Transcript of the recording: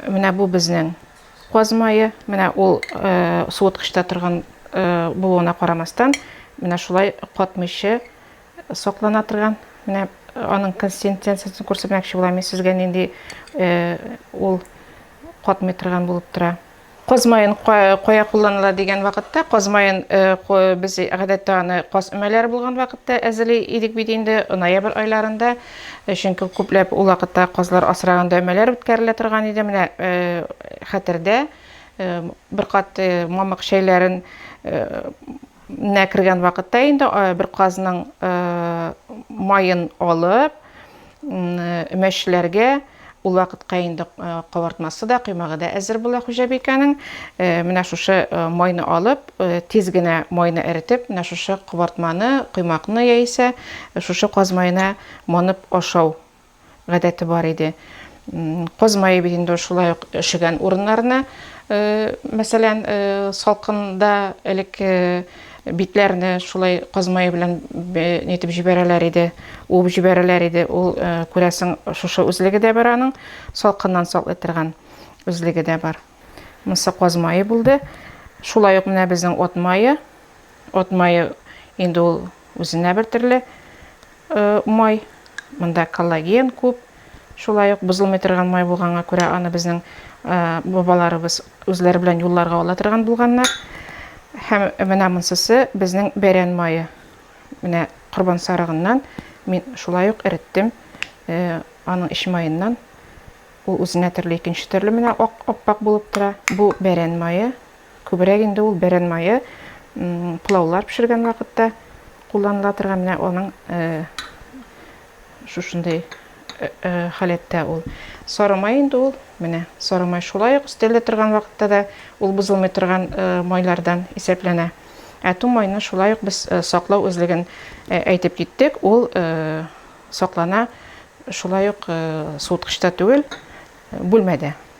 Менә бу безнең каз мае. Менә ул суыткычта торган булуына карамастан, менә шулай катмыйча саклана торган. Менә аның консистенциясен күрсәтмәкче булам мин сезгә, нинди ул катмый торган булып тора. Каз маен кая кулланыла дигән вакытта, каз маен без гадәттә аны каз өмәләре булган вакытта әзерли идек бит инде, ноябрь айларында. Чөнки күпләп ул вакытта казлар асраганда өмәләр үткәрелә торган иде. Менә хәтердә бер кат мамык чәйләрен Нә кергән вакытта инде бер казның маен алып, мәчеләргә Ул вакытка инде кабартмасы да, коймагы да әзер була хуҗабикәнең. Менә шушы майны алып, тиз генә майны эретеп, менә шушы кабартманы, коймакны яисә шушы каз маена манып ашау Гадәте бар иде. Козмае бит инде шулай ук өшегән урыннарына, мәсәлән, салкында элек битләрне шулай козмае белән нитеп җибәрәләр иде, уып җибәрәләр иде. Ул күрәсең, шушы үзлеге дә бар аның, салкыннан саклый торган үзлеге дә бар. Монысы козмае булды. Шулай ук менә безнең от мае. Ат мае инде ул үзенә бер төрле май. Монда коллаген күп. Шулай ук бозылмый торган май булганга күрә аны безнең бабаларыбыз үзләре белән юлларга ала торган булганнар. Һәм менә монсысы безнең бәрән мае. Менә корбан сарыгыннан мин шулай ук эреттем. Аның эч маеннан ул үзенә төрле икенче төрле менә ак аппак булып тора. Бу бәрән мае. Күбрәк инде ул бәрән мае пылаулар пешергән вакытта кулланыла торган, менә аның шушындый халәттә ул. Сары май инде ул, менә сары май шулай ук өстәлдә торган вакытта да ул бозылмый торган майлардан исәпләнә. Ә ту майны шулай ук без саклау үзлеген әйтеп киттек, ул саклана шулай ук суыткычта түгел, бүлмәдә.